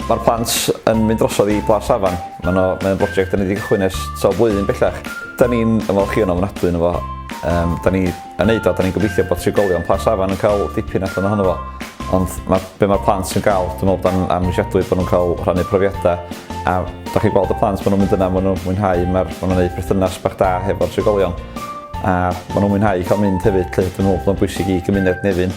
Mae'r plant yn mynd drosodd i Blas Afan. Mae'n mae brosiect da ni wedi cychwyn ers sawl blwyddyn bellach. Da ni'n ymwneud chi yn ofnadwy yn efo. Um, da ni yn neud o, 'da ni'n gobeithio bod trigolion Plas Afan yn cael dipyn allan ohono fo, ond ma, be mae'r plant yn gael, dwi'n meddwl bod o'n amhrisiadwy bod nhw'n cael rhannu profiadau, a da chi'n gweld y plant, maen nhw'n mynd yna, maen nhw'n mwynhau, maen nhw'n gwneud perthynas bach da hefo'r trigolion, a maen nhw'n mwynhau cael mynd hefyd, dwi'n meddwl bod o'n bwysig i gymuned Nefyn.